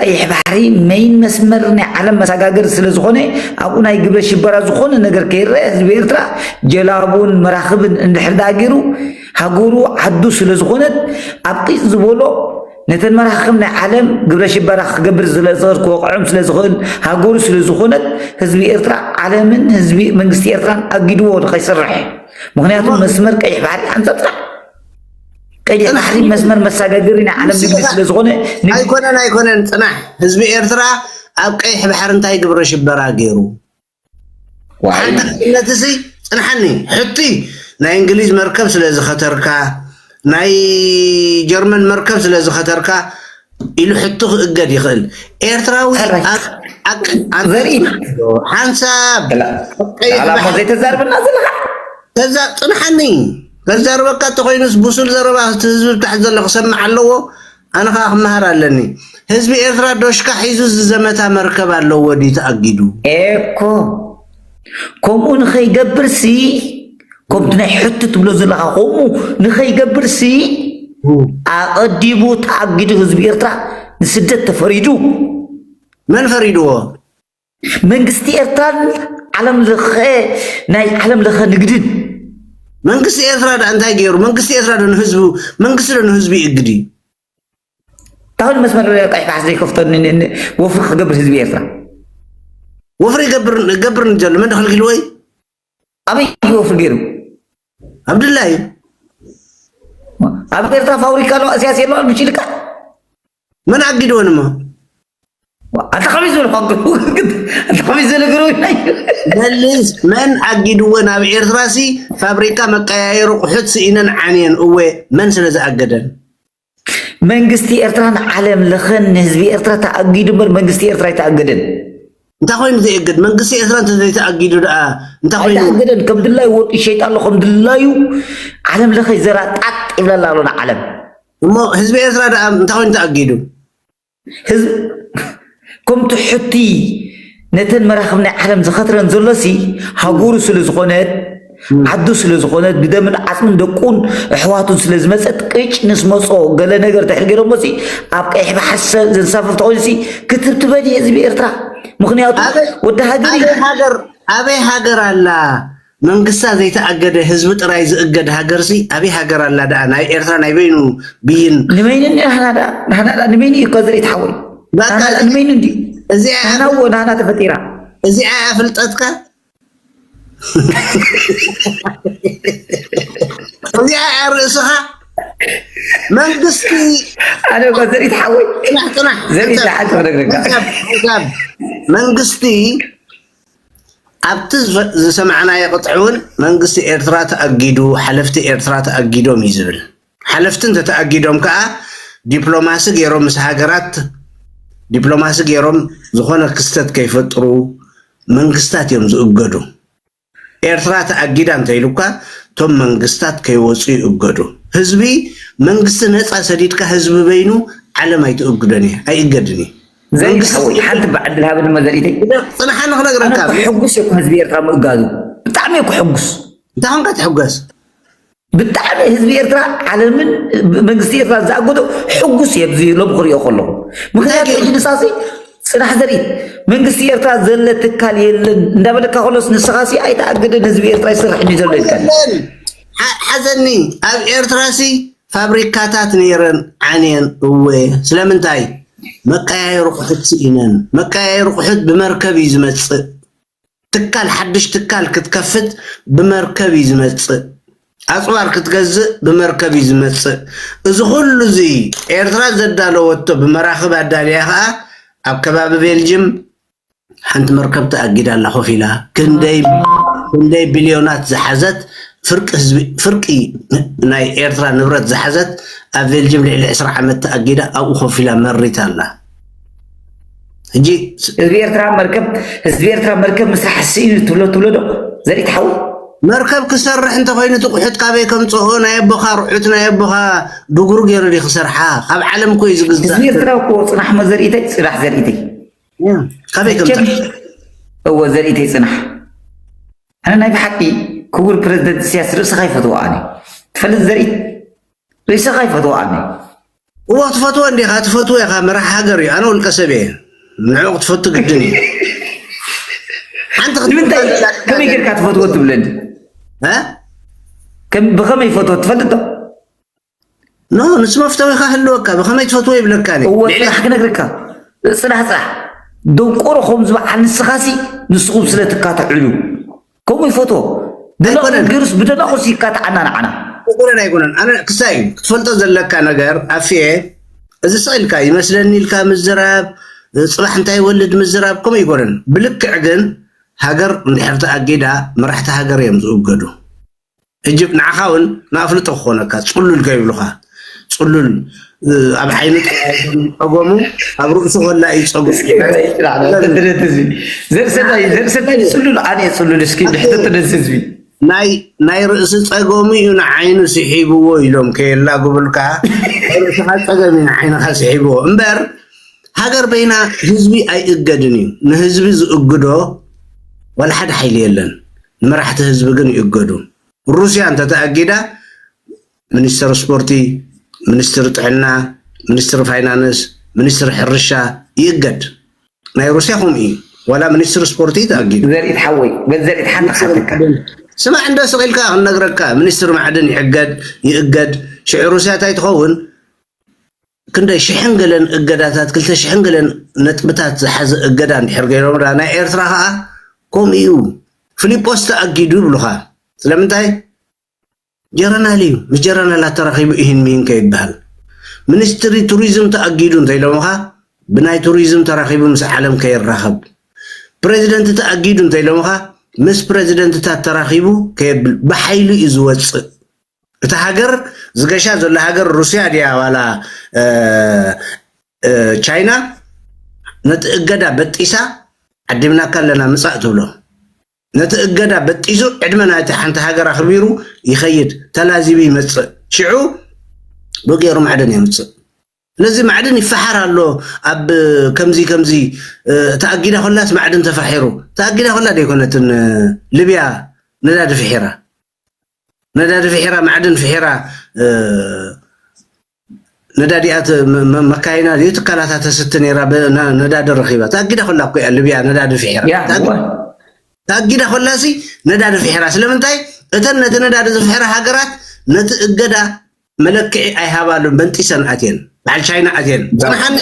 ቀይሕ ባሕሪ መይን መስመር ናይ ዓለም መሰጋገሪ ስለ ዝኾነ ኣብኡ ናይ ግብረ ሽበራ ዝኾነ ነገር ከይረአ ህዝቢ ኤርትራ ጀላቡን መራኽብን እንድሕር ደኣ ገይሩ ሃገሩ ዓዱ ስለ ዝኾነት ኣብ ቂፅ ዝበሎ ነተን መራኽብ ናይ ዓለም ግብረ ሽበራ ክገብር ስለ ዝኽእል ክወቕዖም ስለ ዝኽእል ሃገሩ ስለ ዝኾነት ህዝቢ ኤርትራ ዓለምን ህዝቢ መንግስቲ ኤርትራን ኣጊድዎ ንኸይሰርሕ ምክንያቱ መስመር ቀይሕ ባሕሪ ሓንፃፅራ ቀይሕ ባሕሪ መስመር መሳጋገሪ ናይ ዓለም ንግዲ ስለ ዝኾነ ኣይኮነን ኣይኮነን ፅናሕ ህዝቢ ኤርትራ ኣብ ቀይሕ ባሕሪ እንታይ ግብረ ሽበራ ገይሩ ሓንቲ ክነት እዚ ፅንሓኒ ሕቲ ናይ እንግሊዝ መርከብ ስለ ዝኸተርካ ናይ ጀርመን መርከብ ስለ ዝኸተርካ ኢሉ ሕቱ ክእገድ ይኽእል ኤርትራዊ ሓንሳብ ዘይተዛርበና ዘለካ ተዛ ፅንሓኒ ከዛርበካ እተኮይኑስ ብሱል ዘረባ እቲ ህዝቢ ብታሕቲ ዘሎ ክሰምዕ ኣለዎ ኣነ ከኣ ክመሃር ኣለኒ ህዝቢ ኤርትራ ዶሽካ ሒዙ ዝዘመታ መርከብ ኣለዎ ድዩ ተኣጊዱ ኤኮ ከምኡ ንኸይገብርሲ ከምቲ ናይ ሕቱ ትብሎ ዘለኻ ከምኡ ንኸይገብርሲ ኣቐዲሙ ተኣጊዱ ህዝቢ ኤርትራ ንስደት ተፈሪዱ መን ፈሪድዎ መንግስቲ ኤርትራን ዓለም ለኸ ናይ ዓለም ለኸ ንግድን መንግስቲ ኤርትራ ዳ እንታይ ገይሩ? መንግስቲ ኤርትራ ዶ ንህዝቡ መንግስቲ ዶ ንህዝቡ ይእግድ እዩ? ታሁን መስመር ቀይሕ ባሕሪ ዘይከፍቶ ወፍሪ ክገብር ህዝቢ ኤርትራ ወፍሪ ይገብር ገብር ንዘሎ መን ክልኪሉ ወይ ኣበይ እዩ ወፍሪ ገይሩ? ኣብ ድላይ ኣብ ኤርትራ ፋብሪካ ሎ እዚያ ሴሎ ብጭልቃ መን ኣጊድዎ ንማ ኣታ ከመይ ዝበለ ኣታ ከመይ ዝበለ ገረው መልስ መን ኣጊድዎ ናብ ኤርትራ ሲ ፋብሪካ መቀያየሪ ቁሑት ስኢነን ዓንየን እወ መን ስለ ዝኣገደን መንግስቲ ኤርትራን ዓለም ለኸን ንህዝቢ ኤርትራ ተኣጊዱ እምበር መንግስቲ ኤርትራ ኣይተኣገደን እንታይ ኮይኑ ዘየግድ መንግስቲ ኤርትራ እንተዘይተኣጊዱ ደኣ እንታይ ኮይኑ ኣይተኣገደን ከም ድላዩ ወርቂ ይሸይጥ ኣሎ ከም ድላዩ ዓለም ለኸ ዘራ ጣጥ ይብለላ ኣሎ ንዓለም እሞ ህዝቢ ኤርትራ ደኣ እንታይ ኮይኑ ተኣጊዱ? ከም ትሑቲ ነተን መራኽብ ናይ ዓለም ዝኸትረን ዘሎሲ ሃጉሩ ስለ ዝኾነት ዓዱ ስለ ዝኾነት ብደምን ዓጽምን ደቁን ኣሕዋቱን ስለ ዝመጸት ቅጭ ምስ መጾ ገለ ነገር ድሕሪ ገይሮሞሲ ኣብ ቀይሕ ባሕሪ ዘንሳፍፍ ተኾይኑሲ ክትብትበን እዩ ህዝቢ ኤርትራ ምክንያቱ ወዲ ሃገር ኣበይ ሃገር ኣላ መንግስታ ዘይተኣገደ ህዝቢ ጥራይ ዝእገድ ሃገርሲ ኣበይ ሃገር ኣላ ደኣ ናይ ኤርትራ ናይ በይኑ ብይን ንበይኑ ናህና ደኣ ናህና ደኣ ንበይኑ እዩ እኮ ዝርኢት ሓወይ ናህና ደኣ ንበይኑ እንድዩ ናህና እዎ ናህና ተፈጢራ እዚኣ እያ ፍልጠትካ እዚኣ እያ ርእስኻ መንግስቲ ኣነ እኮ ዘርኢት ሓወይ ጽናሕ ጽናሕ ዘርኢት ሓንቲ ክነግረካ መንግስቲ ኣብቲ ዝሰማዕናዮ ቅጥዒ እውን መንግስቲ ኤርትራ ተኣጊዱ፣ ሓለፍቲ ኤርትራ ተኣጊዶም እዩ ዝብል። ሓለፍቲ እንተተኣጊዶም ከኣ ዲፕሎማሲ ገይሮም ምስ ሃገራት ዲፕሎማሲ ገይሮም ዝኾነ ክስተት ከይፈጥሩ መንግስታት እዮም ዝእገዱ። ኤርትራ ተኣጊዳ እንተኢሉካ እቶም መንግስታት ከይወጹ ይእገዱ። ህዝቢ መንግስቲ ነጻ ሰዲድካ ህዝቢ በይኑ ዓለም ኣይትእግዶን እያ ኣይእገድን እዩ። ዘይሓወይ ሓንቲ ብዓድል ሃበኒ መዘሪተይ ፅናሓኒ ክነግረካ ሕጉስ እኮ ህዝቢ ኤርትራ ምእጋዙ ብጣዕሚ እኮ ሕጉስ እንታይ ኮንካ ትሕገስ ብጣዕሚ ህዝቢ ኤርትራ ዓለምን መንግስቲ ኤርትራ ዝኣገዶ ሕጉስ እየ ብዚ ሎም ክሪኦ ከለኹ ምክንያቱ ሕጂ ንሳሲ ፅናሕ ዘርኢ መንግስቲ ኤርትራ ዘለ ትካል የለን እንዳበለካ ከሎስ ንስኻሲ ኣይተኣግድን ህዝቢ ኤርትራ ይስራሕ ዘሎ ኢልካ ሓዘኒ ኣብ ኤርትራሲ ፋብሪካታት ነይረን ዓንየን እወ ስለምንታይ መቀያየሪ ቁሑት ስኢነን መቀያየሪ ቁሑት ብመርከብ እዩ ዝመፅእ ትካል ሓዱሽ ትካል ክትከፍት ብመርከብ እዩ ዝመፅእ ኣፅዋር ክትገዝእ ብመርከብ እዩ ዝመፅእ እዚ ኩሉ እዙይ ኤርትራ ዘዳለወቶ ብመራኽብ ኣዳልያ ከዓ ኣብ ከባቢ ቤልጅም ሓንቲ መርከብ ተኣጊዳ ኣላ ኮፍ ኢላ ክንደይ ቢልዮናት ዝሓዘት ፍርቂ ናይ ኤርትራ ንብረት ዝሓዘት ኣብ ቬልጅም ልዕሊ ዕስራ ዓመት ተኣጊዳ ኣብኡ ኮፍ ኢላ መሪታ ኣላ ሕጂ ህዝቢ ኤርትራ መርከብ ህዝቢ ኤርትራ መርከብ ምስራሕ ስኢኑ ትብሎ ትብሎ ዶ ዘርኢ ትሓው መርከብ ክሰርሕ እንተኮይኑ እቲ ቁሑት ካበይ ከምፅኦ ናይ ኣቦኻ ርሑት ናይ ኣቦኻ ድጉሩ ገይሩ ዲ ክሰርሓ ካብ ዓለም እኮ እዩ ዝግዛእ ህዝቢ ኤርትራ እኮ ፅናሕ መዘርእተይ ፅናሕ ዘርእተይ እወ ዘርእተይ ፅናሕ ኣነ ናይ ብሓቂ ክቡር ፕረዚደንት ኢሳያስ ርእስኻ ይፈትዎ ኣነ ትፈልጥ ዘርኢ ርእስኻ ይፈትዎ ኣነ እወ ክትፈትዎ እንዲኻ ትፈትዎ ኢኻ መራሕ ሃገር እዩ ኣነ ውልቀ ሰብ እየ ንዕኡ ክትፈቱ ግድን እዩ ሓንቲ ንምንታይ ከመይ ጌርካ ትፈትዎ ትብለኒ ብኸመይ ይፈትዎ ትፈልጥ ዶ ኖ ንሱ መፍተዊኻ ህልወካ ብኸመይ ትፈትዎ ይብለካ እኔ እወ ልዕሊ ጽናሕ ክነግርካ ጽናሕ ጽናሕ ደንቆሮ ከምዚ በዓል ንስኻሲ ንስኹም ስለ ትካትዕሉ ከምኡ ይፈትዎ ብደናቑስ ኣይኮነን ገይሩስ ብደናቑስ ይካትዓና ንዓና ኣይኮነን ኣይኮነን ኣነ ክሳይ እዩ ክትፈልጦ ዘለካ ነገር ኣፍየ እዚ ስቕ ኢልካ ይመስለኒ ኢልካ ምዝራብ እ፣ ጽባሕ እንታይ ይወልድ ምዝራብ ከምኡ ኣይኮነን ብልክዕ ግን ሃገር እንድሕር ተኣጊዳ መራሕቲ ሃገር እዮም ዝእገዱ ህጂ ንዓኻ ውን ንኣፍልጦ ክኾነካ ጽሉል ከይብሉኻ ጽሉል ኣብ ዓይኒ ጸገሙ ኣብ ርእሱ ከላ እዩ ጸገሙ ዘርሰታይ ጽሉል ኣነ ጽሉል እስኪ ድሕተት ነዚ ህዝቢ ናይ ርእሲ ጸገሙ እዩ ንዓይኑ ስሒብዎ ኢሎም ከየላግብልካ ርእስኻ ጸገም እዩ ንዓይንኻ ስሒብዎ እምበር ሃገር በይና ህዝቢ ኣይእገድን እዩ ንህዝቢ ዝእግዶ ወላ ሓደ ሓይሊ የለን ንመራሕቲ ህዝቢ ግን ይእገዱ። ሩስያ እንተተኣጊዳ ሚኒስትር ስፖርቲ፣ ሚኒስትር ጥዕና፣ ሚኒስትር ፋይናንስ፣ ሚኒስትር ሕርሻ ይእገድ። ናይ ሩስያ ከምኡ እዩ ዋላ ሚኒስትር ስፖርቲ ተኣጊዱ። ዘርኢት ሓወይ በል ዘርኢት ሓንቲ ሚኒስትር ክሓተካ ማዕድን ስማዕ እንዶ ስቕ ኢልካ ክንነግረካ ሚኒስትር ማዕድን ይሕገድ ይእገድ ሽዑ ሩስያ እንታይ ትኸውን? ክንደይ ሽሕን ገለን እገዳታት ክልተ ሽሕን ገለን ነጥብታት ዝሓዘ እገዳ እንድሕር ገይሮም ድኣ ናይ ኤርትራ ከኣ ከምኡ ኢዩ ፍሊጶስ ተኣጊዱ ይብሉኻ ስለምንታይ ጀረናል ኢዩ ምስ ጀረናላት ተራኺቡ ኢሂን ሚሂን ከይብሃል ሚኒስትሪ ቱሪዝም ተኣጊዱ እንተኢሎምኻ ብናይ ቱሪዝም ተራኺቡ ምስ ዓለም ከይራኸብ ፕረዚደንት ተኣጊዱ እንተኢሎምኻ ምስ ፕረዚደንትታት ተራኺቡ ከየብል ብሓይሉ ኢዩ ዝወጽእ እታ ሃገር ዝገሻ ዘሎ ሃገር ሩስያ ድያ ዋላ ቻይና ነቲ እገዳ በጢሳ ዓዲምናካ ኣለና ምጻእ ትብሎ ነቲ እገዳ በጢሱ ዕድመ ናይቲ ሓንቲ ሃገር ኣኽቢሩ ይኸይድ ተላዚቡ ይመፅእ ሽዑ ብገይሩ ማዕድን የምፅእ ስለዚ ማዕድን ይፈሓር ኣሎ ኣብ ከምዚ ከምዚ ተኣጊዳ ኮላስ ማዕድን ተፋሒሩ ተኣጊዳ ኮላ ደይኮነትን ልብያ ነዳዲ ፍሒራ ነዳዲ ፊሒራ ማዕድን ፊሒራ ነዳዲኣ መካይና ድዩ ትካላታ ተስቲ ነይራ ነዳዲ ረኺባ ተኣጊዳ ኮላ እኮ እያ ልብያ ነዳዲ ፊሒራ ተኣጊዳ ኮላሲ ነዳዲ ፊሒራ ስለምንታይ እተን ነቲ ነዳዲ ዝፍሕራ ሃገራት ነቲ እገዳ መለክዒ ኣይሃባሉን በንጢሰን ኣትየን በዓል ቻይና ኣትየን ፅንሓኒ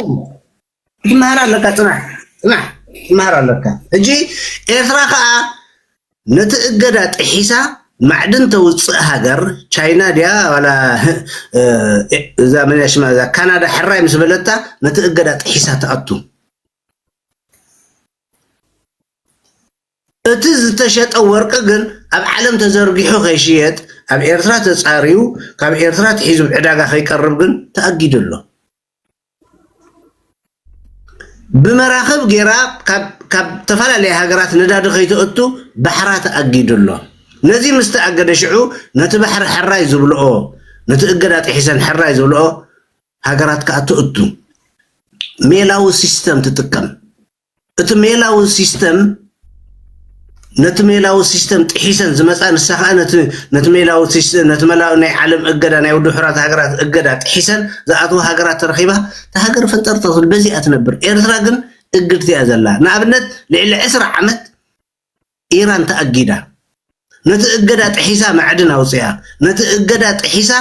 ትመሃር ኣለካ ፅናሕ ፅናሕ ትመሃር ኣለካ ሕጂ ኤርትራ ከዓ ነቲ እገዳ ጥሒሳ ማዕድን ተውፅእ ሃገር ቻይና ድያ ዋላ እዛ መንያ ሽማ እዛ ካናዳ ሕራይ ምስ በለታ ነቲ እገዳ ጥሒሳ ትኣቱ እቲ ዝተሸጠ ወርቂ ግን ኣብ ዓለም ተዘርጊሑ ከይሽየጥ ኣብ ኤርትራ ተፃርዩ ካብ ኤርትራ ትሒዙ ዕዳጋ ከይቀርብ ግን ተኣጊዱ ኣሎ ብመራኽብ ጌራ ካብ ተፈላለያ ሃገራት ነዳዲ ከይተእቱ ባሕራ ተኣጊዱ ኣሎ። ነዚ ምስ ተኣገደ ሽዑ ነቲ ባሕሪ ሕራይ ዝብልኦ ነቲ እገዳ ጥሒሰን ሕራይ ዝብልኦ ሃገራት ከኣ ተእቱ ሜላዊ ሲስተም ትጥቀም። እቲ ሜላዊ ሲስተም ነቲ ሜላዊ ሲስተም ጥሒሰን ዝመጻ ንሳ ከኣ ነቲ ነቲ ሜላዊ ሲስተም ነቲ መላዊ ናይ ዓለም እገዳ ናይ ውድብ ሕራት ሃገራት እገዳ ጥሒሰን ዝኣትዋ ሃገራት ተረኺባ እታ ሃገር ፈንጠርጠር በዚኣ ትነብር ኤርትራ ግን እግድቲ እያ ዘላ ንኣብነት ልዕሊ ዕስራ ዓመት ኢራን ተኣጊዳ ነቲ እገዳ ጥሒሳ ማዕድን ኣውጺኣ ነቲ እገዳ ጥሒሳ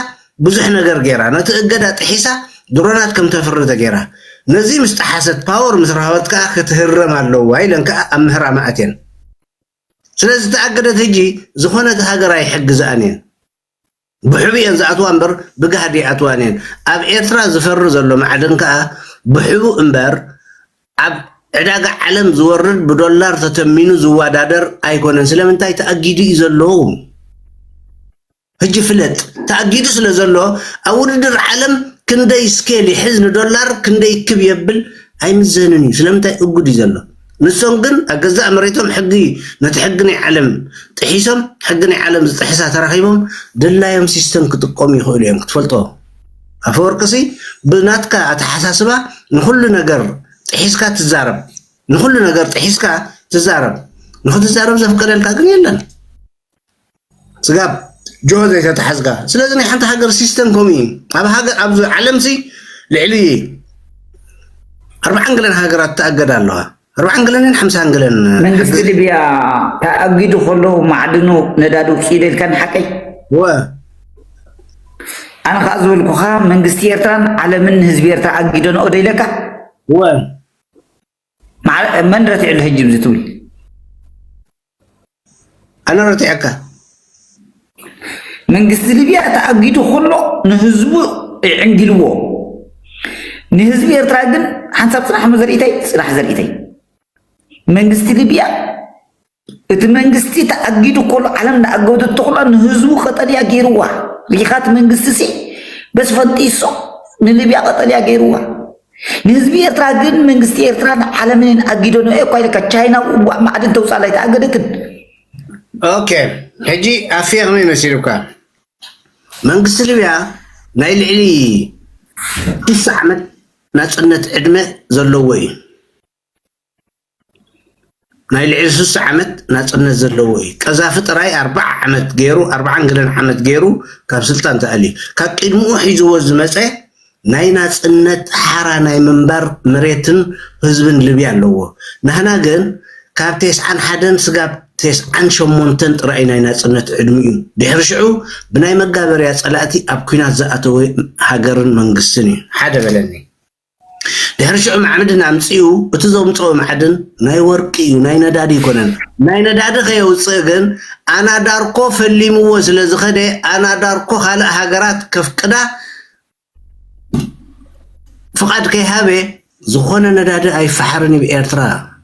ብዙሕ ነገር ጌራ ነቲ እገዳ ጥሒሳ ድሮናት ከም ተፍሪ ተጌራ ነዚ ምስ ጠሓሰት ፓወር ምስ ረሃበት ከኣ ክትህረም ኣለዋ ኢለን ከኣ ኣብ ምህራማ ኣትየን ስለ ዝተኣገደት ህጂ ዝኾነት ሃገር ኣይሕግዝኣን እየን ብሕቡእ እየን ዝኣትዋ እምበር ብጋህዲ ኣይኣትዋን እየን። ኣብ ኤርትራ ዝፈሪ ዘሎ ማዕድን ከኣ ብሕቡእ እምበር ኣብ ዕዳጋ ዓለም ዝወርድ ብዶላር ተተሚኑ ዝወዳደር ኣይኮነን። ስለምንታይ ተኣጊዱ እዩ ዘሎ። ሕጂ ፍለጥ ተኣጊዱ ስለ ዘሎ ኣብ ውድድር ዓለም ክንደይ ስኬል ይሕዝ ንዶላር ክንደይ ክብ የብል ኣይምዘንን እዩ። ስለምንታይ እጉድ እዩ ዘሎ። ንሶም ግን ኣብ ገዛእ መሬቶም ሕጊ ነቲ ሕጊ ናይ ዓለም ጥሒሶም ሕጊ ናይ ዓለም ዝጥሕሳ ተራኺቦም ድላዮም ሲስተም ክጥቀሙ ይኽእሉ እዮም ክትፈልጦ ኣፈወርቅሲ ብናትካ ኣተሓሳስባ ንኹሉ ነገር ጥሒስካ ትዛረብ ንኹሉ ነገር ጥሒስካ ትዛረብ ንኽትዛረብ ዘፍቀደልካ ግን የለን ስጋብ ጅሆ ዘይተታሕዝካ ስለዚ ናይ ሓንቲ ሃገር ሲስተም ከምኡ እዩ ኣብ ሃገር ኣብዚ ዓለም ሲ ልዕሊ ኣርባዓን ገለን ሃገራት ተኣገዳ ኣለዋ ኣርባዓን ገለንን ሓምሳን ገለን መንግስቲ ሊብያ ተኣጊዱ ከሎ ማዕድኑ ነዳዲ ውፅኢዶ ኢልካ ንሓቀይ ወ ኣነ ከዓ ዝበልኩኻ መንግስቲ ኤርትራን ዓለምን ንህዝቢ ኤርትራ ኣጊደንኦ ዶ ኢለካ ወ ማዕረ መን ረቲዕሉ ሕጂ ብዚ ትብል። ኣነ ረቲዐካ። መንግስቲ ሊብያ ተኣጊዱ ከሎ ንህዝቡ ይዕንጊልዎ ንህዝቢ ኤርትራ ግን ሓንሳብ ጽናሕ እሞ ዘርእተይ ጽናሕ ዘርእተይ መንግስቲ ሊብያ እቲ መንግስቲ ተኣጊዱ ኮሎ ዓለም ዳኣገዱ ተኹላ ንህዝቡ ቀጠልያ ገይርዋ ሊኻት መንግስቲ ሲ በስ ፈንጢሶ ንልብያ ቀጠልያ ገይርዋ ንህዝቢ ኤርትራ ግን መንግስቲ ኤርትራን ዓለምን ኣጊደኖ እኳ ኢልካ ቻይና ውጓእ ማዕድን ተውፃእ ላይ ተኣገደትን ኦኬ ሕጂ ኣፍየ ከመይ መሲሉካ መንግስቲ ልብያ ናይ ልዕሊ ሽሳ ዓመት ናፅነት ዕድመ ዘለዎ እዩ ናይ ልዕሊ ስሳ ዓመት ናጽነት ዘለዎ እዩ ቀዛፊ ጥራይ ኣርባዓ ዓመት ጌሩ ኣርባዓን ገለን ዓመት ጌሩ ካብ ስልጣን ተኣልዩ ካብ ቂድምኡ ሒዝዎ ዝመጸ ናይ ናጽነት ሓራ ናይ ምንባር መሬትን ህዝብን ልብያ ኣለዎ ናህና ግን ካብ ቴስዓን ሓደን ስጋብ ቴስዓን ሸሞንተን ጥራይ ናይ ናጽነት ዕድሚኡ ድሕሪ ሽዑ ብናይ መጋበርያ ጸላእቲ ኣብ ኩናት ዝኣተወ ሃገርን መንግስትን እዩ ሓደ በለኒ ድሕሪ ሽዑ ማዕብድን ኣምጺኡ እቲ ዘምጽኦ ማዕድን ናይ ወርቂ እዩ ናይ ነዳዲ ኣይኮነን ናይ ነዳዲ ከየውጽእ ግን ኣናዳርኮ ፈሊምዎ ስለ ዝኸደ ኣናዳርኮ ካልእ ሃገራት ከፍቅዳ ፍቓድ ከይሃበ ዝኾነ ነዳዲ ኣይፈሓርን እዩ ኤርትራ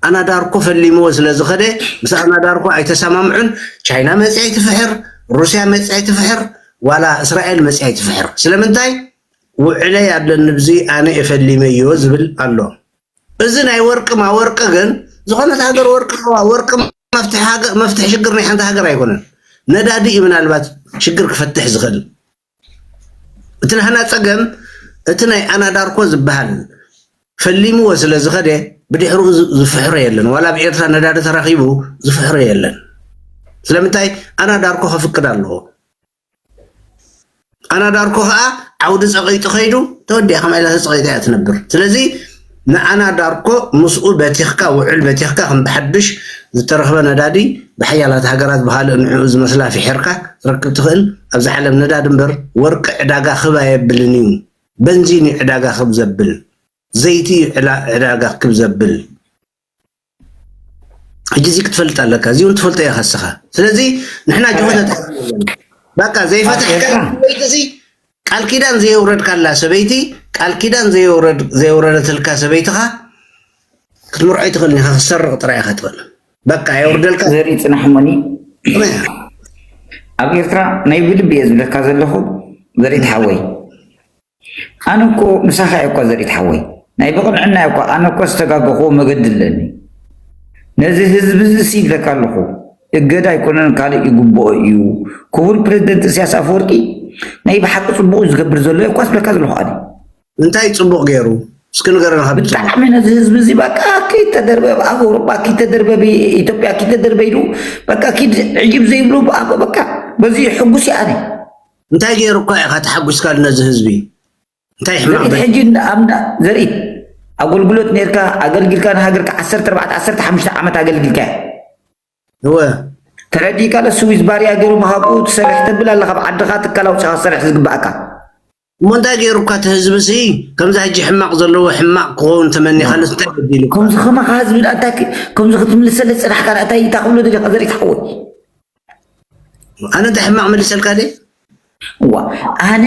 ኣናዳርኮ ፈሊምዎ ስለ ዝኸደ ምስ ኣናዳርኮ ኣይተሰማምዑን ቻይና መጽያ ኣይትፍሕር ሩስያ መጽያ ኣይትፍሕር ዋላ እስራኤል መጽያ ኣይትፍሕር ስለምንታይ ውዕለይ ኣለኒ ብዚ ኣነ ኤፈሊመዮ ዝብል ኣሎ እዚ ናይ ወርቂ ማወርቂ ግን ዝኾነት ሃገር ወርቂ ኣለዋ ወርቂ መፍትሒ ሽግር ናይ ሓንቲ ሃገር ኣይኮነን ነዳዲ እዩ ምናልባት ሽግር ክፈትሕ ዝኽእል እቲ ናህና ጸገም እቲ ናይ ኣናዳርኮ ዝበሃል ፈሊምዎ ስለ ዝኸደ ብድሕሪኡ ዝፍሕሮ የለን ዋላ ኣብ ኤርትራ ነዳዲ ተረኺቡ ዝፍሕሮ የለን ስለምንታይ ኣናዳርኮ ከፍቅድ ኣለዎ ጣና ዳርኮ ከኣ ዓውዲ ጸቒጡ ከይዱ ተወዲኣ ከማይ ኢላ ተጸቒጣ ኢያ ትነብር ስለዚ ንኣና ዳርኮ ምስኡ በቲኽካ ውዕል በቲኽካ ከም ብሓድሽ ዝተረኽበ ነዳዲ ብሓያላት ሃገራት ብኻልእ ንዕኡ ዝመስላ ፊሒርካ ትረክብ ትኽእል ኣብዚ ዓለም ነዳዲ እምበር ወርቂ ዕዳጋ ክብ ኣየብልን ኢዩ በንዚን ኢዩ ዕዳጋ ክብ ዘብል ዘይቲ ኢዩ ዕዳጋ ክብ ዘብል ሕጂ እዚ ክትፈልጥ ኣለካ እዚ እውን ትፈልጦ ኢኻ እስኻ ስለዚ ንሕና ጅሆታት በቃ ዘይፈትሕካ ሰበይቲ እዚ ቃል ኪዳን ዘየውረድካላ ሰበይቲ ቃል ኪዳን ዘየውረደትልካ ሰበይትኻ ክትምርዖ ኣይትኽእልን ኢኻ ክትሰርቕ ጥራይ ኢኻ ትኽእል በቃ የውርደልካ ዘርኢ ፅናሕ እሞኒ ኣብ ኤርትራ ናይ ብልቢ እየ ዝብለካ ዘለኹ ዘርኢ ተሓወይ ኣነ እኮ ምሳኻ እየ እኳ ዘሪት ሓወይ ናይ ብቕንዕና እየ እኳ ኣነ እኳ ዝተጋገኹዎ መገዲ ኣለኒ ነዚ ህዝቢ እዚ ሲ ይብለካ ኣለኹ እገዳ ኣይኮነን ካልእ ይግብኦ እዩ ክቡር ፕረዚደንት እስያስ ኣፈወርቂ ናይ ብሓቂ ጽቡቕ እዩ ዝገብር ዘሎ እየ እኳ ዝብለካ ዘለኹ ኣነ እንታይ ጽቡቕ ገይሩ እስኪ ንገረና ካብ ጽቡቕ ብጣዕሚ ነዚ ህዝቢ እዚ በቃ ከይተደርበ ኣብ ኣውሮጳ ከይተደርበ ኢትዮጵያ ከይተደርበ ኢሉ በቃ ኪድ ዕጅብ ዘይብሉ በቃ በዚ ሕጉስ እየ ኣነ እንታይ ገይሩካ ኢኻ ተሓጒስካ ነዚ ህዝቢ እንታይ ሕማቕ ዘርኢት ሕጂ ኣምዳ ዘርኢት ኣገልግሎት ነርካ ኣገልግልካ ንሃገርካ ዓሰርተ ኣርባዕተ ዓሰርተ ሓሙሽተ ዓመት ኣገልግልካ እወ ተረዲእካ ዶ ስዊዝ ባርያ ገይሩ ምሃብኡ ትሰርሕ ተብል ኣላ ካብ ዓድኻ ትካል ኣውፂኻ ትሰርሕ ዝግባእካ እሞ እንታይ ገይሩካ እቲ ህዝቢ ሲ ከምዚ ሕጂ ሕማቕ ዘለዎ ሕማቕ ክኸውን ተመኒኻሉ እንታይ በዲሉ ከምዚ ከማኻ ህዝቢ እንታይ ከምዚ ክትምልሰለ ፅናሕካ እንታይ እንታይ ክብሎ ደሊኻ ዘርኢት ሓወይ ኣነ እንታይ ሕማቅ መሊሰልካ ደይ እዋ ኣነ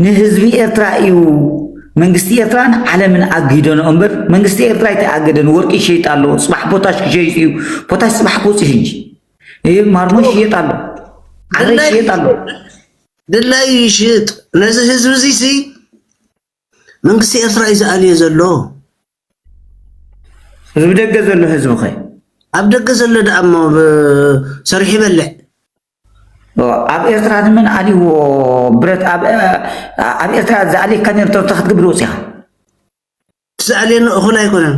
ንህዝቢ ኤርትራ እዩ መንግስቲ ኤርትራን ዓለምን ኣግሂደኖ እምበር መንግስቲ ኤርትራ ኣይተኣገደን ወርቂ ይሸይጥ ኣሎ ፅባሕ ፖታሽ ክሸይጥ እዩ ፖታሽ ፅባሕ ክውፅእ ሕጂ ይህ ማርሞ ይሸየጥ ኣሎ ዓረ ይሸየጥ ኣሎ ድላይ ይሽጥ ነዚ ህዝቢ እዚ መንግስቲ ኤርትራ እዩ ዝኣልዮ ዘሎ። እብ ደገ ዘሎ ህዝቢ ከ? ኣብ ደገ ዘሎ ደኣ እሞ ሰሪሑ ይበልዕ። ኣብ ኤርትራ ንመን ኣልዎ ብረት ኣብ ኤርትራ ዝኣልየካ ነሩ እንታይ ክትገብር ወጺኻ? እቲ ዝኣልየኒ እኹል ኣይኮነን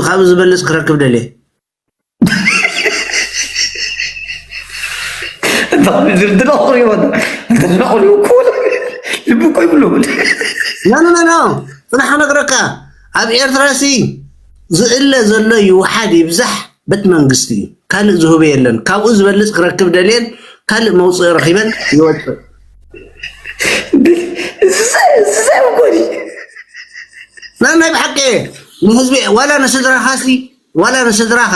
ካብኡ ዝብልጽ ክረክብ ደልየ። ፅናሕ ነግረካ ኣብ ኤርትራ ሲ ዝእለ ዘሎ ይውሓድ ይብዛሕ በት መንግስቲ እዩ ካልእ ዝህበ የለን ካብኡ ዝበልፅ ክረክብ ደልየን ካልእ መውፅኢ ረኪበን ይወፅእ ናይ ብሓቂ ንህዝቢ ዋላ ንስድራኻሲ ዋላ ንስድራኻ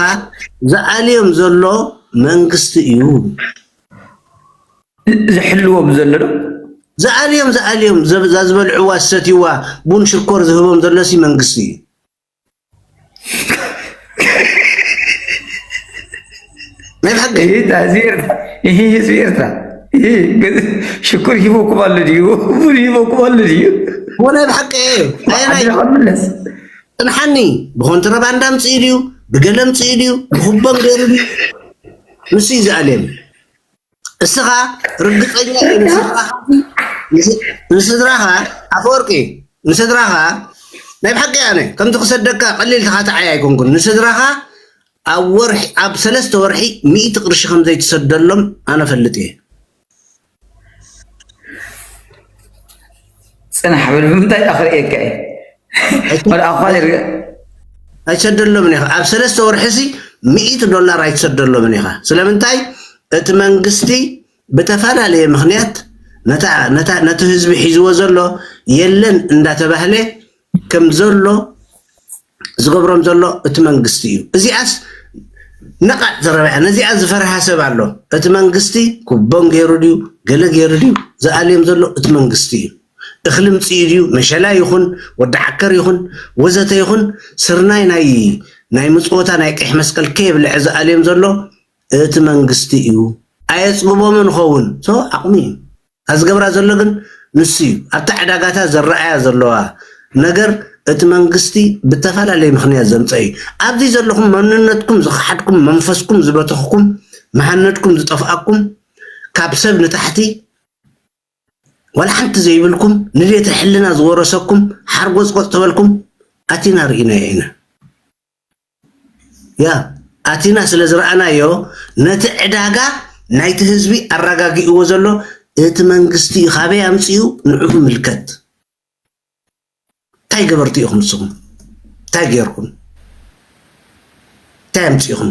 ዝኣልዮም ዘሎ መንግስቲ እዩ። ዝሕልዎም ዘሎ ዶ? ዝኣልዮም ዝኣልዮም እዛ ዝበልዕዋ ዝሰትይዋ ቡን ሽኮር ዝህቦም ዘሎሲ መንግስቲ እዩ። ናይ ብሓቂ ይህ ህዝቢ ኤርትራ ይህ ህዝቢ ኤርትራ ይህ ሽኩር ሂቦኩም ኣሎ ድዩ ቡን ሂቦኩም ኣሎ ድዩ ወላ ብሓቂ እዩ ኣየናይ ኣድራኻ ምለስ ጽንሓኒ ብኮንትረባንድ ኣምጺኡ ድዩ ብገለ ኣምጺኡ ድዩ ብኩቦን ገይሩ ድዩ ንሱ እዩ ዝኣልየኒ እስኻ ርግጸኛ እዩ ንስድራኻ ንስድራኻ ኣፈወርቂ ንስድራኻ ናይ ብሓቂ ኣነ ከምዚ ክሰደካ ቀሊል ተኻታዓይ ኣይኮንኩን ንስድራኻ ኣብ ወርሒ ኣብ ሰለስተ ወርሒ ሚእቲ ቅርሺ ከም ዘይትሰደሎም ኣነ ፈልጥ እየ ፅናሕ በል ብምንታይ እባ ክርእየካ እየ ወላ ኣኳል ይርገ ኣይትሰደሎምን ኢኻ ኣብ ሰለስተ ወርሒሲ ሚእቲ ዶላር ኣይትሰደሎምን ኢኻ ስለምንታይ እቲ መንግስቲ ብተፈላለየ ምክንያት ነቲ ህዝቢ ሒዝዎ ዘሎ የለን እንዳተባህለ ከም ዘሎ ዝገብሮም ዘሎ እቲ መንግስቲ እዩ። እዚኣስ ነቓዕ ዘረባያ ነዚኣ ዝፈርሃ ሰብ ኣሎ። እቲ መንግስቲ ኩቦን ገይሩ ድዩ ገለ ገይሩ ድዩ ዝኣልዮም ዘሎ እቲ መንግስቲ እዩ። እኽሊ ምፅኡ ድዩ መሸላ ይኹን ወዲ ዓከር ይኹን ወዘተ ይኹን ስርናይ ናይ ናይ ምፅወታ ናይ ቀይሕ መስቀል ከየብልዐ ዝኣልዮም ዘሎ እቲ መንግስቲ እዩ። ኣየፅግቦምን ኸውን ሶ ዓቕሙ እዩ። እታ ዝገብራ ዘሎ ግን ንሱ እዩ። ኣብቲ ዕዳጋታት ዝረኣያ ዘለዋ ነገር እቲ መንግስቲ ብተፈላለየ ምኽንያት ዘምፀኦ እዩ። ኣብዚ ዘለኹም መንነትኩም ዝኸሓድኩም፣ መንፈስኩም ዝበተኽኩም፣ መሃነድኩም ዝጠፍኣኩም፣ ካብ ሰብ ንታሕቲ ዋላ ሓንቲ ዘይብልኩም፣ ንዴተ ሕልና ዝወረሰኩም፣ ሓርጎፅጎፅ ተበልኩም ኣቲና ርኢናዮ ኢና። ኣቲና ስለ ዝረኣናዮ ነቲ ዕዳጋ ናይቲ ህዝቢ ኣራጋጊእዎ ዘሎ እቲ መንግስቲ እዩ ካበይ ኣምፂኡ ንዑ ይምልከት እንታይ ገበርቲ ኢኹም ንስኹም እንታይ ገይርኩም እንታይ ኣምፂእኹም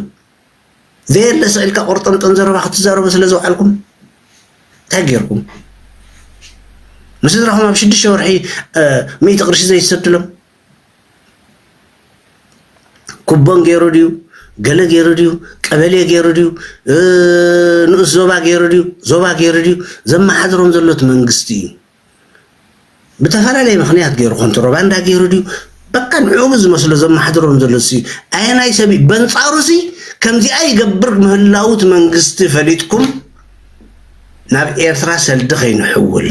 ዘየለ ስዕልካ ቆርጠምጠን ዘረባ ክትዛረቡ ስለ ዝውዓልኩም እንታይ ገይርኩም ምስ ስድራኹም ኣብ ሽዱሽተ ወርሒ ሚእቲ ቅርሺ ዘይትሰድሎም ኩቦን ገይሩ ድዩ ገለ ገይሩ ድዩ ቀበሌ ገይሩ ድዩ ንኡስ ዞባ ገይሩ ድዩ ዞባ ገይሩ ድዩ ዘመሓድሮም ዘሎ እቲ መንግስቲ እዩ ብተፈላለየ ምክንያት ገይሩ ኮንትሮባንዳ ገይሩ ድዩ በቃ ንዕኡ ዝመስሎ ዘመሓድሮም ዘሎ ሲ ኣየናይ ሰብ በንፃሩ ሲ ከምዚኣ ይገብር ምህላው እቲ መንግስቲ ፈሊጥኩም ናብ ኤርትራ ሰልዲ ከይንሕውል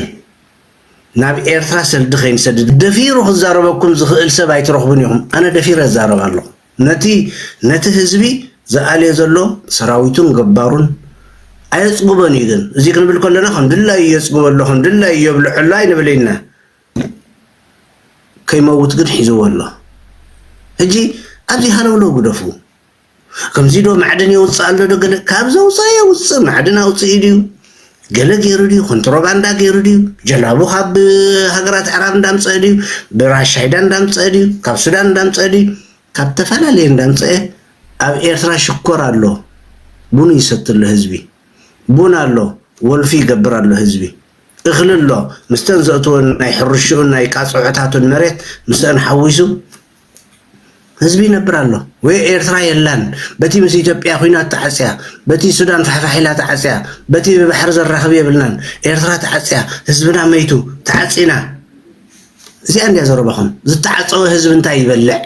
ናብ ኤርትራ ሰልዲ ከይንሰድድ ደፊሩ ክዛረበኩም ዝኽእል ሰብ ኣይትረኽቡን ኢኹም ኣነ ደፊረ እዛረብ ኣለኹ ነቲ ነቲ ህዝቢ ዝኣልዮ ዘሎ ሰራዊቱን ገባሩን ኣየጽግቦን እዩ ግን እዚ ክንብል ከለና ከም ድላዩ የጽግቦ ኣሎ ከም ድላዩ የብልዖ ኣሎ ኣይንብል ኢና ከይመውት ግን ሒዝዎ ኣሎ ሕጂ ኣብዚ ሃለውለው ግደፉ ከምዚ ዶ ማዕድን የውጽእ ኣሎ ዶ ገለ ካብ ዘውጽኣ የውጽእ ማዕድን ኣውጽኡ ድዩ ገለ ገይሩ ድዩ ኮንትሮባንዳ ገይሩ ድዩ ጀላቡ ካብ ሃገራት ኣዕራብ እንዳምጽአ ድዩ ብራሻይዳ እንዳምጽአ ድዩ ካብ ሱዳን እንዳምጽአ ድዩ ካብ ተፈላለየ እንዳምጽአ ኣብ ኤርትራ ሽኮር ኣሎ ቡን ይሰቲ ኣሎ ህዝቢ ቡን ኣሎ ወልፊ ይገብር ኣሎ ህዝቢ እኽሊ ኣሎ ምስተን ዘእትወን ናይ ሕርሽኡን ናይ ቃፅዖታቱን መሬት ምስአን ሓዊሱ ህዝቢ ይነብር ኣሎ ወይ ኤርትራ የላን በቲ ምስ ኢትዮጵያ ኩናት ተዓጽያ በቲ ሱዳን ፋሕፋሕ ኢላ ተዓጽያ በቲ ብባሕሪ ዘራኽብ የብልናን ኤርትራ ተዓጽያ ህዝብና መይቱ ተዓጺና እዚኣ እንድያ ዘረባኹም ዝተዓጸወ ህዝቢ እንታይ ይበልዕ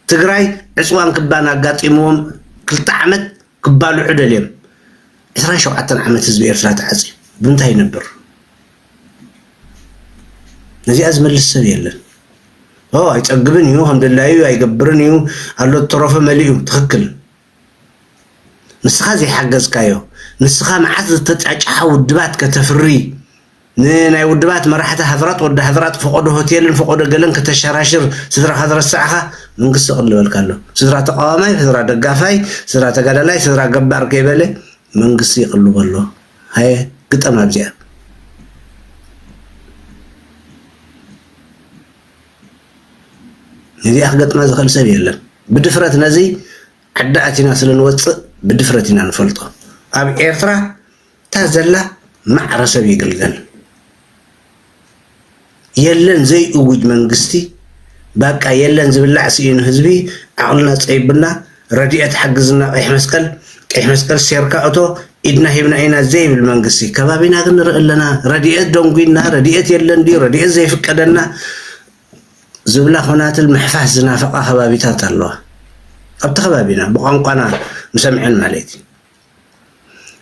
ትግራይ ዕጽዋን ክባን ኣጋጢምዎም ክልተ ዓመት ክባልዑ ደልዮም ዕስራን ሸውዓተን ዓመት ህዝቢ ኤርትራ ተዓጽዩ ብምንታይ ይነብር ነዚኣ ዝመልስ ሰብ የለን ኦ ኣይጸግብን እዩ ከም ድላዩ ኣይገብርን እዩ ኣሎ ተረፈ መሊኡ ትኽክል ንስኻ ዘይሓገዝካዮ ንስኻ መዓት ዝተጫጭሓ ውድባት ከተፍሪ ንናይ ውድባት መራሕቲ ሃገራት ወዲ ሃገራት ፈቆዶ ሆቴልን ፈቆዶ ገለን ከተሻራሽር ስድራኻ ዝረሳዕኻ መንግስቲ ይቅልበልካ ኣሎ ስድራ ተቃዋማይ ስድራ ደጋፋይ ስድራ ተጋዳላይ ስድራ ገባር ከይበለ መንግስቲ ይቅልቦ ኣሎ ሃየ ግጠም ኣብዚኣ ነዚኣ ክገጥማ ዝኽእል ሰብ የለን ብድፍረት ነዚ ዓዲ ኣቲና ስለ ንወፅእ ብድፍረት ኢና ንፈልጦ ኣብ ኤርትራ እታ ዘላ ማዕረ ሰብ ይግልገል የለን ዘይእውጅ መንግስቲ ባቃ የለን ዝብላዕ ስኢኑ ህዝቢ ዓቕልና ፀይቡና ረድኤት ሓግዝና ቀይሕ መስቀል ቀይሕ መስቀል ሴርካ እቶ ኢድና ሂብና ኢና ዘይብል መንግስቲ ከባቢና ግን ንርኢ ኣለና ረድኤት ደንጒና ረድኤት የለን ድዩ ረድኤት ዘይፍቀደና ዝብላ ኮናትል ምሕፋስ ዝናፈቓ ከባቢታት ኣለዋ ኣብቲ ከባቢና ብቋንቋና ምሰምዐን ማለት እዩ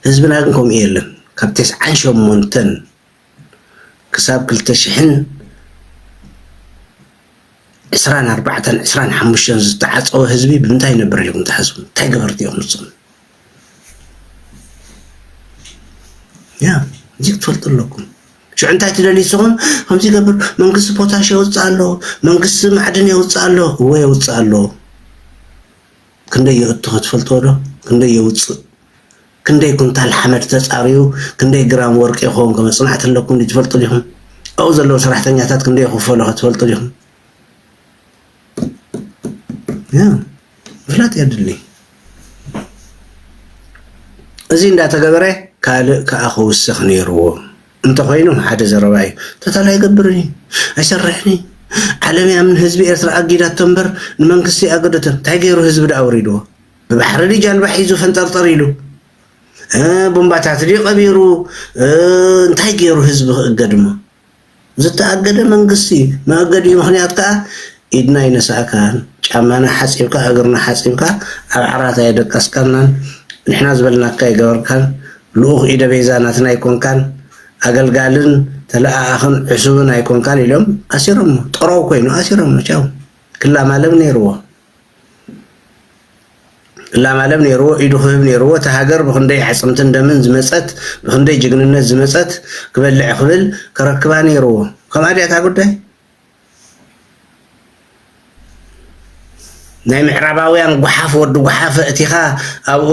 ህዝብና ግን ከምኡ የለን ካብ ተስዓን ሸሞንተን ክሳብ ክልተ ሽሕን ዕስራን ኣርባዕተን ዕስራን ሓሙሽተን ዝተዓፀወ ህዝቢ ብምንታይ ይነብር ኢልኩም ትሓስቡ? እንታይ ገበርቲ እዮም ንሶም? ያ እዚ ክትፈልጡ ኣለኩም። ሽዑ እንታይ ትደልዩ ንስኹም? ከምዚ ገብር መንግስቲ ፖታሽ የውፅእ ኣሎ፣ መንግስቲ ማዕድን የውፅእ ኣሎ፣ እወ የውፅእ ኣሎ። ክንደይ የእቱኸ ትፈልጥዎ ዶ? ክንደይ የውጽእ? ክንደይ ኩንታል ሓመድ ተጻርዩ ክንደይ ግራም ወርቂ ይኸውንከ መጽናዕቲ ኣለኩም ድዩ ትፈልጡ ዲኹም? ኣብኡ ዘለዉ ሰራሕተኛታት ክንደይ ይኽፈሉኸ ትፈልጡ ዲኹም? ያ ምፍላጥ የድሊ። እዚ እንዳተገበረ ካልእ ከኣ ክውስኽ ነይርዎ። እንተኾይኑ ሓደ ዘረባ እዩ ቶታል ኣይገብርን እዩ ኣይሰርሕን እዩ ዓለም እያ ን ህዝቢ ኤርትራ ኣጊዳቶ እምበር ንመንግስቲ ኣይኣገደቶን እንታይ ጌሩ ህዝቢ ድኣ ኣውሪድዎ ብባሕሪ ድዩ ጃልባ ሒዙ ፈንጠርጠር ኢሉ ቦምባታት ድዩ ቀቢሩ እንታይ ጌሩ ህዝቢ ክእገድ እሞ ዝተኣገደ መንግስቲ እዩ መእገዲኡ ምክንያት ከዓ ኢድና ኣይነሳእካን ጫማና ሓፂብካ እግርና ሓፂብካ ኣብ ዓራት ኣየደቀስካናን ንሕና ዝበልናካ ኣይገበርካን ልኡኽ ኢደ ቤዛ ናትና ኣይኮንካን፣ ኣገልጋልን ተለኣኣኽን ዕሱብን ኣይኮንካን ኢሎም ኣሲሮሞ። ጠራው ኮይኑ ኣሲሮሞ ቻው። ክላማለም ነይርዎ። ክላማለም ነይርዎ፣ ኢዱ ክህብ ነይርዎ። እቲ ሃገር ብክንደይ ኣዕፅምትን ደምን ዝመፀት፣ ብክንደይ ጅግንነት ዝመፀት ክበልዕ ክብል ከረክባ ነይርዎ። ከምኣ ድያ እታ ጉዳይ? ናይ ምዕራባውያን ጓሓፍ ወዲ ጓሓፍ እቲኻ ኣብኡ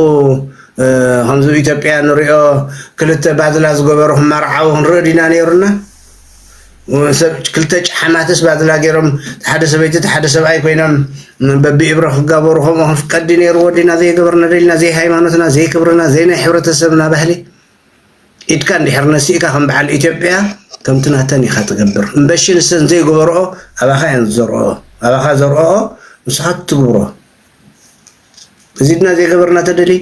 ከምዚ ኢትዮጵያ ንሪኦ ክልተ ባዝላ ዝገበሩ ክመርዓው ክንርኢ ዲና ነይሩና ሰብ ክልተ ጫሓማትስ ባዝላ ገይሮም ሓደ ሰበይቲ ሓደ ሰብኣይ ኮይኖም በቢእብረ ክጋበሩ ከምኡ ክንፍቀድ ነይርዎ ዲና ዘይገበርና ደልና ዘይሃይማኖትና ዘይክብርና ዘይናይ ሕብረተሰብና ባህሊ ኢድካ እንድሕር ነሲእካ ከም በዓል ኢትዮጵያ ከምቲ ናተን ኢኻ ትገብር እምበሺ ንሰን ዘይገበርኦ ኣባኻ እየን ዝዘርኦኦ ኣባኻ ዘርኦኦ ንስኻ ትትግብሮ እዚድና ዘይገበርና ተደሊ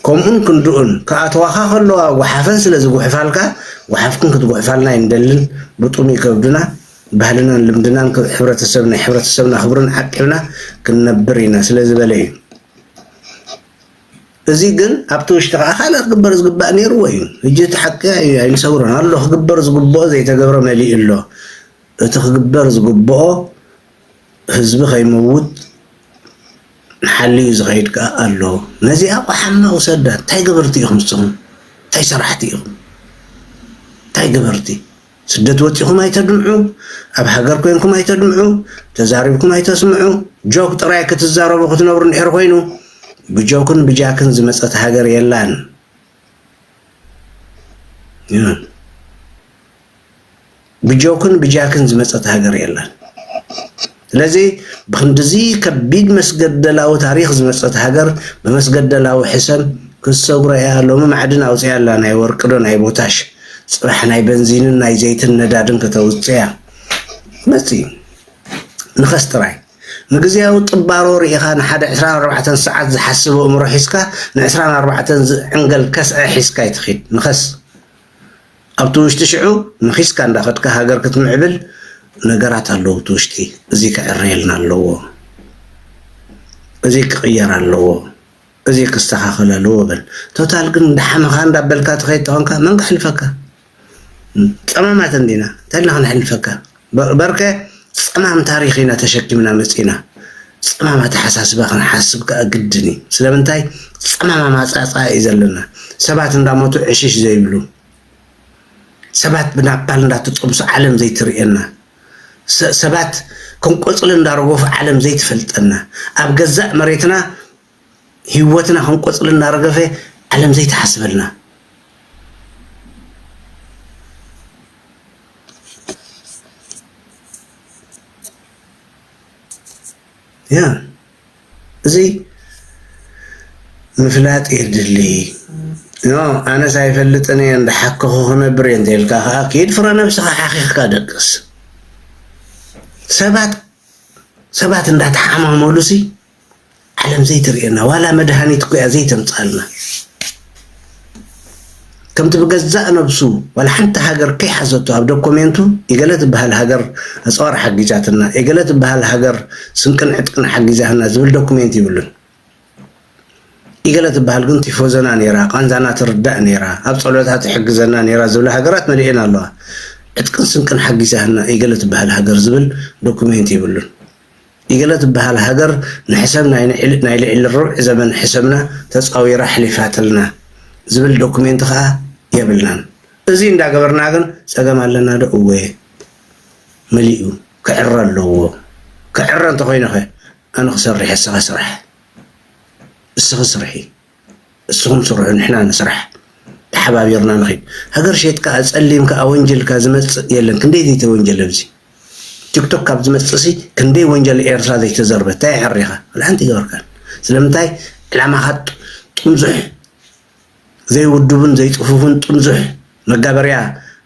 ከምኡን ክንድኡን ክኣተዋኻ ከለዋ ጓሓፈን ስለ ዝጉሕፋልካ ጓሓፍክን ክትጉሕፋልና ኣይንደልን ብጡም ይከብድና ባህልናን ልምድናን ሕብረተሰብ ናይ ሕብረተሰብና ክብርን ዓቂብና ክንነብር ኢና ስለ ዝበለ እዩ እዚ ግን ኣብቲ ውሽጢ ከኣ ካልእ ክግበር ዝግባእ ኔርዎ እዩ። ህጂ እቲ ሓቂ ኣይንሰውሮን ኣሎ ክግበር ዝግብኦ ዘይተገብረ መሊኡ ኣሎ። እቲ ክግበር ዝግብኦ ህዝቢ ከይመውት ሓልዩ ዝኸይድ ከኣ ኣሎ። ነዚኣ ቆሓማ ውሰዳ እንታይ ገበርቲ ኢኹም ንስኹም እንታይ ሰራሕቲ ኢኹም እንታይ ገበርቲ። ስደት ወጺኹም ኣይተድምዑ ኣብ ሃገር ኮንኩም ኣይተድምዑ ተዛሪብኩም ኣይተስምዑ ጆክ ጥራይ ክትዛረቡ ክትነብሩ እንድሕር ኮይኑ ብጆክን ብጃክን ዝመጸት ሃገር የላን ብጆክን ብጃክን ዝመጸት ሃገር የላን ስለዚ ብኽንድዚ ከቢድ መስገደላዊ ታሪኽ ዝመጸት ሃገር ብመስገደላዊ ሕሰም ክትሰግሮ ኢያ ሎሚ ማዕድን ኣውጺኣ ኣላ ናይ ወርቂ ዶ ናይ ቦታሽ ጽባሕ ናይ በንዚንን ናይ ዘይትን ነዳድን ከተውጽእያ መጺ ንኸስ ጥራይ ንግዝያዊ ጥባሮ ርኢኻ ንሓደ ዕስራን ኣርባዕተን ሰዓት ዝሓስብ ኣእምሮ ሒዝካ ንዕስራን ኣርባዕተን ዝዕንገል ከስዐ ሒዝካ ኣይትኺድ ንኸስ ኣብቲ ውሽጢ ሽዑ መኺስካ እንዳኸድካ ሃገር ክትምዕብል ነገራት ኣለዉ እቲ ውሽጢ እዚ ክዕረየልና ኣለዎ እዚ ክቕየር ኣለዎ እዚ ክስተኻኸል ኣለዎ በል ቶታል ግን እንዳሓመኻ እንዳበልካ ትኸይድ ተኾንካ መን ክሕልፈካ ጸማማት እንዲና እንታይ ኢልና ክንሕልፈካ በርከ ጸማም ታሪኽ ኢና ተሸኪምና መጺእና። ጸማም ኣተሓሳስባ ክንሓስብ ከኣ ግድን እዩ። ስለምንታይ? ጸማም ኣማጻጽኣ እዩ ዘለና። ሰባት እንዳሞቱ ዕሽሽ ዘይብሉ፣ ሰባት ብናፓል እንዳተጸብሱ ዓለም ዘይትርእየና፣ ሰባት ከም ቆጽሊ እንዳረገፉ ዓለም ዘይትፈልጠና፣ ኣብ ገዛእ መሬትና ሂወትና ከም ቆጽሊ እናረገፈ ዓለም ዘይትሓስበልና። ያ እዚ ምፍላጥ የድሊ ኖ ኣነስ ኣይፈልጥን እየ እንዳሓከኹ ክነብር እየ እንተይልካ ከዓ ኪድ ፍረ ነብስኻ ሓኺኽካ ደቅስ ሰባት ሰባት እንዳተሓማመሉሲ ዓለም ዘይትርእየና ዋላ መድሃኒት እኮ እያ ዘይተምጽኣልና ከምቲ ብገዛእ ነብሱ ዋላ ሓንቲ ሃገር ከይሓዘቶ ኣብ ዶኮሜንቱ የገለ ትበሃል ሃገር ኣጽዋር ሓጊዛትና የገለ ትበሃል ሃገር ስንቅን ዕጥቅን ሓጊዛህና ዝብል ዶኩሜንት ይብሉን ይገለ ትበሃል ግን ቲፎዘና ነይራ ቃንዛና ትርዳእ ነይራ ኣብ ፀሎታ ትሕግዘና ነይራ ዝብላ ሃገራት መሊኤን ኣለዋ ዕጥቅን ስንቅን ሓጊዛህና ይገለ ትበሃል ሃገር ዝብል ዶኩሜንት ይብሉን ኢገለ ትበሃል ሃገር ንሕሰም ናይ ልዒሊ ርብዒ ዘመን ሕሰምና ተጻዊራ ኣሕሊፋትልና ዝብል ዶኩሜንት ከኣ የብልናን እዚ እንዳ ገበርና ግን ጸገም ኣለና ዶ እወ መሊኡ ክዕረ ኣለዎ ክዕረ እንተኮይኑከ ኣነ ክሰርሕ እስከ ስራሕ እስኪ ስርሒ። እስኹም ስርሑ ንሕና ንስራሕ ተሓባቢርና ንኺድ ሃገር ሸይጥካ ኣጸሊምካ ኣወንጅልካ ዝመጽእ የለን ክንደይ ዘይተወንጀለ ኣብዚ ቲክቶክ ካብ ዝመጽእሲ ክንደይ ወንጀል ኤርትራ ዘይተዘርበ እንታይ ኣሕሪኻ ወላ ሓንቲ ይገበርካን ስለምንታይ ዕላማኻ ጥምዙሕ ዘይውድቡን ዘይጽፉፉን ጥምዙሕ መጋበርያ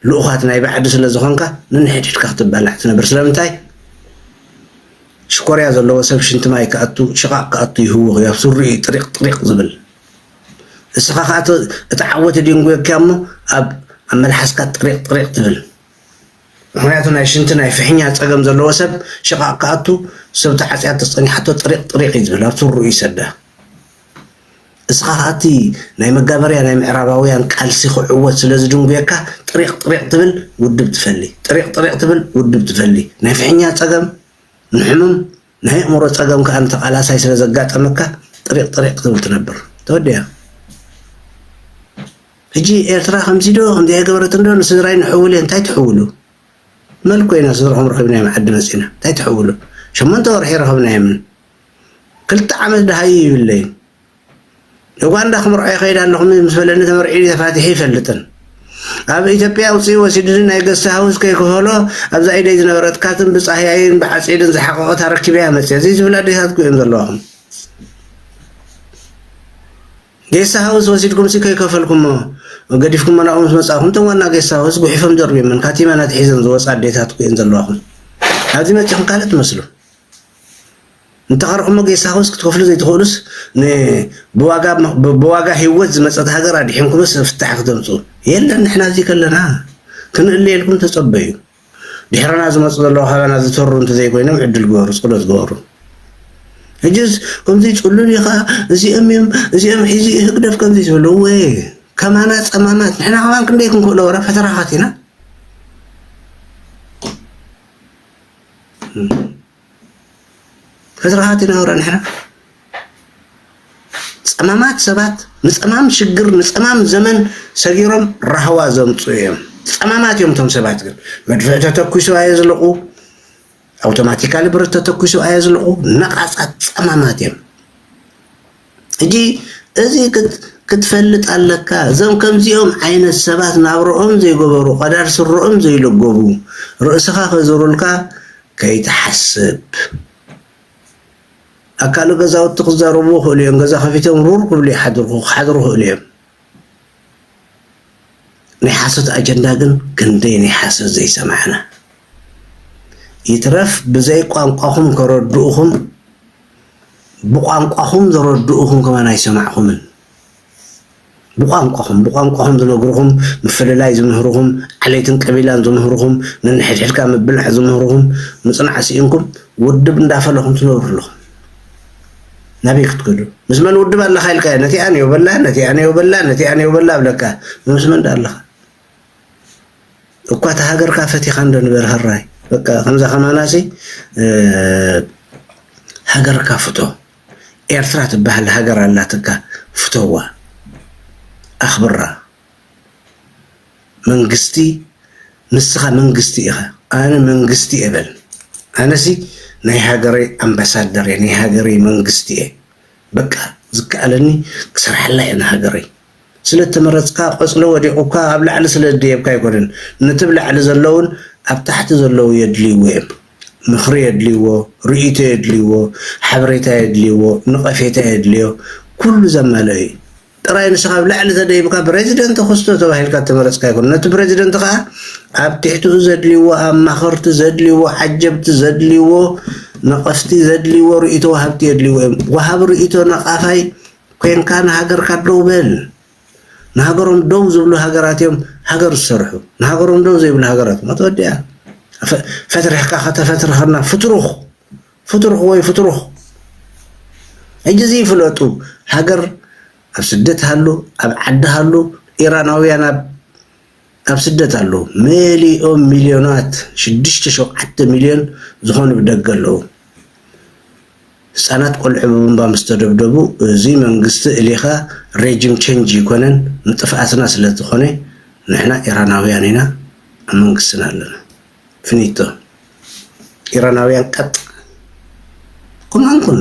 ልኡኻት ናይ ባዕዲ ስለ ዝኾንካ ነንሕድሕድካ ክትባላዕ ትነብር ስለምንታይ ሽኮርያ ዘለዎ ሰብ ሽንቲ ማይ ክኣቱ ሽቓቕ ክኣቱ ይህውኽ እዩ ኣብ ሱሪ እዩ ጥሪቕ ጥሪቕ ዝብል እስኻ ከዓ እቲ ዓወት ድንጉየካ እሞ ኣብ ኣብ መልሓስካ ጥሪቕ ጥሪቕ ትብል ምክንያቱ ናይ ሽንቲ ናይ ፍሕኛ ፀገም ዘለዎ ሰብ ሽቓቕ ክኣቱ ሰብ ተዓፅያ ተፀኒሓቶ ጥሪቕ ጥሪቕ እዩ ዝብል ኣብ ሱሩ ይሰዳ እስኻ ኸኣ እቲ ናይ መጋበርያ ናይ ምዕራባውያን ቃልሲ ክዕወት ስለ ዝድንጉየካ ጥሪቕ ጥሪቕ ትብል ውድብ ትፈሊ ጥሪቕ ጥሪቕ ትብል ውድብ ትፈሊ ናይ ፍሕኛ ጸገም ንሕምም ናይ ኣእምሮ ጸገም ከኣ ንተቓላሳይ ስለ ዘጋጠመካ ጥሪቕ ጥሪቕ ክትብል ትነብር ተወዲኣ ሕጂ ኤርትራ ከምዚ ዶ ከምዚ ኣይገበረትን ዶ ንስድራይ ንሕውል እየ እንታይ ትሕውሉ መን ኮይና ስድራኹም ረኺብናዮም ዓዲ መጺና እንታይ ትሕውሉ ሸሞንተ ወርሒ ረኸብናዮምን ክልተ ዓመት ደሃዩ ይብለይን እጓ እንዳ ክምርዖ ይኸይድ ኣለኹም ምስ በለኒ ተመርዒኒ ተፋቲሐ ይፈልጥን ኣብ ኢትዮጵያ ኣውፅኡ ወሲድኒ ናይ ገስት ሃውስ ከይክፈሎ ኣብዛ ኢደይ ዝነበረት ካትን ብፃህያይን ብዓፂድን ዝሓቐቐት ኣረኪበያ መፅየ ዘይትብል ኣዴታት እኮ እየን ዘለዋኹም ጌስት ሃውስ ወሲድኩምሲ ከይከፈልኩሞ ገዲፍኩሞ ናብኡ ምስ መጻእኩም እቶም ዋና ጌስት ሃውስ ጉሒፎም ደርብዮምን ካቲመን ኣትሒዘን ዝወፃ ኣዴታት እኮ እየን ዘለዋኹም ኣብዚ መፂኹም ካልእ ትመስሉ እንተቐርቕሞ ጌሳኹምስ ክትከፍሉ ዘይትኽእሉስ ንብዋጋ ሂወት ዝመጸት ሃገር ኣድሒንኩምስ ፍታሕ ክተምጹ የለን ንሕና እዚ ከለና ክንእለየልኩም ተጸበዩ ድሕረና ዝመጹ ዘለዉ ካባና ዝተሩ እንተዘይኮይኖም ዕድል ግበሩ ጸሎት ግበሩ ሕጅስ ከምዚ ጽሉል ኢኻ እዚኦም እዮም እዚኦም ሒዙ እዩ ህግደፍ ከምዚ ዝበለ ወይ ከማና ጸማማት ንሕና ከማን ክንደይ ክንክእሎ ወረ ፈተራኻት ኢና ተዘራሃት ኢና ወረ ንሕና ፀማማት ሰባት ንፀማም ሽግር ንፀማም ዘመን ሰጊሮም ራህዋ ዘምፅኡ እዮም። ፀማማት እዮም እቶም ሰባት ግን መድፍዕ ተተኩሱ ኣየዝልቑ፣ ኣውቶማቲካሊ ብረት ተተኩሱ ኣየዝልቑ። ነቓፃት ፀማማት እዮም። ሕጂ እዚ ክትፈልጥ ኣለካ እዞም ከምዚኦም ዓይነት ሰባት ናብርኦም ዘይገበሩ ቀዳድ ስረኦም ዘይለገቡ ርእስኻ ከዝሩልካ ከይትሓስብ ኣካሉ ገዛውቲ ክዛረቡ ይኽእሉ እዮም ገዛ ከፊቶም ሩር ክብሉ ይሓድሩ ክሓድሩ ይኽእሉ እዮም ናይ ሓሶት ኣጀንዳ ግን ክንደይ ናይ ሓሶት ዘይሰማዕና ይትረፍ ብዘይ ቋንቋኹም ከረድኡኹም ብቋንቋኹም ዘረድኡኹም ከማን ኣይሰማዕኹምን ብቋንቋኹም ብቋንቋኹም ዝነግርኹም ምፍልላይ ዝምህርኹም ዓሌትን ቀቢላን ዝምህርኹም ነንሕድሕድካ ምብላዕ ዝምህርኹም ምፅናዕ ስኢንኩም ውድብ እንዳፈለኹም ትነብሩ ኣለኹም ናበይ ክትከዱ ምስ መን ውድብ ኣለካ ኢልካዮ ነቲኣ ንዮ በላ ነቲኣ ንዮ በላ ነቲኣ ንዮ በላ ብለካ ምስ መን ዳ ኣለካ እኳ እቲ ሃገርካ ፈቲካ እንዶ ንበር ሃራይ በቃ ከምዛ ከማናሲ ሃገርካ ፍቶ ኤርትራ ትበሃል ሃገር ኣላትካ ፍተዋ ኣኽብራ መንግስቲ ንስኻ መንግስቲ ኢኻ ኣነ መንግስቲ እየ በል ኣነሲ ናይ ሃገረይ ኣምባሳደር እየ ናይ ሃገረይ መንግስቲ እየ በቃ ዝከኣለኒ ክሰርሓላ እየ ንሃገረይ ስለተመረፅካ ቆፅሊ ወዲቑካ ኣብ ላዕሊ ስለደየብካ ኣይኮነን ነቲ ብ ላዕሊ ዘለውን ኣብ ታሕቲ ዘለዉ የድልይዎ እዮም ምኽሪ የድልይዎ ርእይቶ የድልይዎ ሓበሬታ የድልይዎ ንቐፌታ የድልዮ ኩሉ ዘማልኦ እዩ ጥራይ ንስኻ ኣብ ላዕሊ ተደይብካ ብረዚደንት ተኸስቶ ተባሂልካ እተመረጽካ ኣይኮነን። ነቲ ብረዚደንት ከኣ ኣብ ትሕትኡ ዘድልይዎ ኣማኸርቲ ዘድልይዎ፣ ዓጀብቲ ዘድልይዎ፣ ነቐፍቲ ዘድልይዎ፣ ርእይቶ ወሃብቲ የድልይዎ እዮም። ወሃቢ ርእይቶ ነቓፋይ ኴንካ ንሃገርካ ደው በል። ንሃገሮም ደው ዝብሉ ሃገራት እዮም ሃገር ዝሰርሑ። ንሃገሮም ደው ዘይብሉ ሃገራት ሞት ወዲኣ። ፈትርሕካ ከተፈትርኸና ፍትሩኽ ፍትርኽ ወይ ፍትሩኽ ሕጂ እዚ ፍለጡ ሃገር ኣብ ስደት ሃሉ ኣብ ዓዲ ሃሉ ኢራናውያን ኣብ ኣብ ስደት ኣለዉ መሊኦም ሚልዮናት ሽዱሽተ ሸውዓተ ሚልዮን ዝኾኑ ብደገ ኣለዉ ህጻናት ቆልዑ ብቡምባ ምስ ተደብደቡ እዚ መንግስቲ እሊኻ ሬጂም ቸንጅ እይኮነን ንጥፍኣትና ስለ ዝኾነ ንሕና ኢራናውያን ኢና ኣብ መንግስትና ኣለና። ፍኒቶ ኢራናውያን ቀጥ ኩናንኩን።